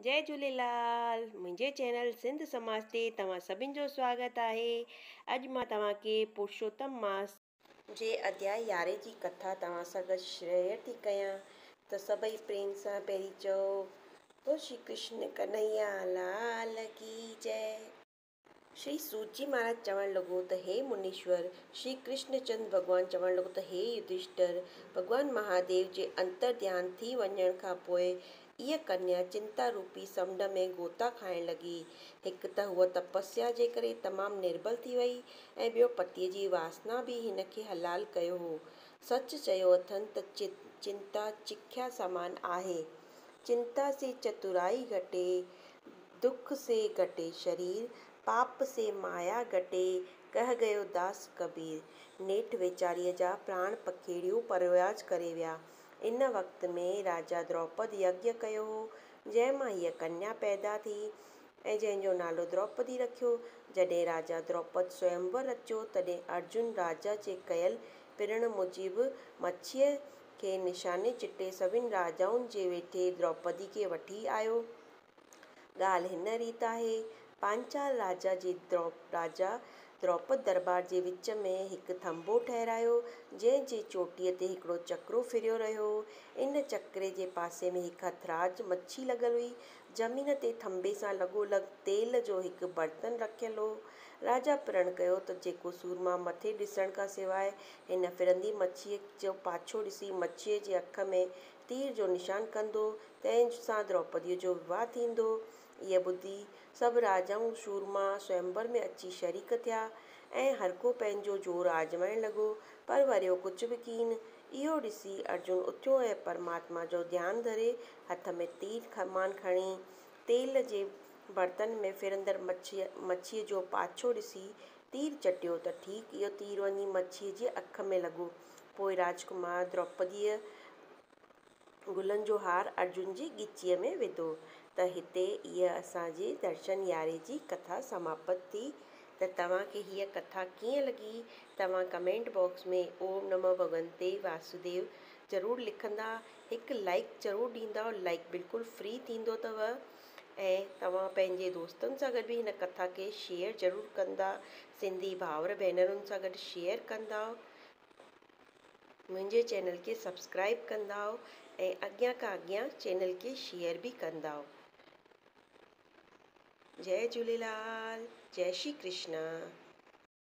جئي جهوليلال منهنجي چينل سنڌ سماج تي توهان سڀن جو سواگت آهي اڄ مان توهان کي پرشوتم ماس جي اڌياء يارهين جي ڪٿا توهان سان گڏ شيئر ٿي ڪيان ته سڀئي پريم سان پهرين چئو بول شري ڪرشن ڪنهيا لال ڪي جئي. شري سوتجي مھاراج چوڻ لڳو ته ھي منيشور، شري ڪرشن چند ڀڳوان چوڻ لڳو ته ھي يڌشٽر، ڀڳوان مھاديو جي انتر ڌيان ٿي وڃڻ کان پوء اھا ڪنيا چنتا روپي سمنڊ ۾ غوطا کائڻ لڳي. ھڪ ته ھوء تپسيا جي ڪري تمام نربل ٿي وئي ۽ ٻيو پتيء جي واسنا به ھن کي حلال ڪيو ھو. سچ چيو اٿن ته چنتا چکيا سامان آھي. چنتا سي چتورائي گھٽي. دک سي گهٽي شرير، پاپ سي مايا گهٽي، ڪهه گيو داس ڪبير. نيٺ ويچاريء جا پراڻ پکيڙيون پروياج ڪري ويا. ان وقت ۾ راجا دروپد يگيا ڪيو هو، جنهن مان هيء ڪنيا پيدا ٿي ۽ جنهن جو نالو دروپدي رکيو. جڏهن راجا دروپد سوئمور رچيو، تڏهن ارجن راجا جي ڪيل پرڻ موجب مڇيء کي نشاني چٽي سڀني راجائن جي ويٺي دروپدي کي وٺي آيو. ڳالهه هن ريت آهي، پانچال راجا جي راجا دروپد درٻار جي وچ ۾ هڪ ٿنڀو ٺهرايو، جنهن جي چوٽيء تي هڪڙو چڪرو ڦريو رهيو هو. ان چڪري جي پاسي ۾ هڪ هٿراج مڇي لڳل هئي. زمين تي ٿنڀي سان لڳو لڳ تيل جو هڪ برتن رکيل هو. راجا پرڻ ڪيو ته جيڪو سورما مٿي ڏسڻ کان سواء هن ڦرندي مڇيء جو پاڇو ڏسي مڇيء جي اک ۾ تير جو نشان ڪندو، تنهن سان دروپديء جو وواهه ٿيندو. اهي ٻڌي سڀ راجائون سورما سوئمبر ۾ اچي شريڪ ٿيا ۽ هرڪو پنهنجو زور آزمائڻ لڳو، پر وريو ڪجهه به ڪين. اهو ڏسي ارجن اٿيو ۽ پرماتما جو ڌيان ڌري هٿ ۾ تير ڪمان کڻي، تيل جي برتن ۾ ڦرندڙ مڇيء جو پاڇو ڏسي تير چٽيو ته ٺيڪ اهو تير وڃي مڇيء جي اک ۾ لڳو. پوء راجڪمار دروپديء گلن جو هار ارجن جي ڳچيء ۾ وڌو ته هتي اها اسان جي درشن ياري جي ڪٿا سماپت ٿي. ته توهان کي هيء ڪٿا ڪيئن لڳي؟ توهان ڪمينٽ باڪس ۾ اوم نمو ڀڳونتي واسوديو ضرور لکندا. هڪ لائيڪ ضرور ڏيندؤ. لائيڪ بلڪل فري ٿيندو اٿو. ۽ توهان پنهنجي دوستن سان گڏ به هن ڪٿا کي شيئر ضرور ڪندا سنڌي ڀائر ڀينرن سان گڏ شيئر ڪندا منهنجي چينل کي سبسڪرائب ڪندا ۽ اڳيان کان اڳيان چينل کي شيئر به ڪندا جئي جهوليلال جئي شري ڪرشنا.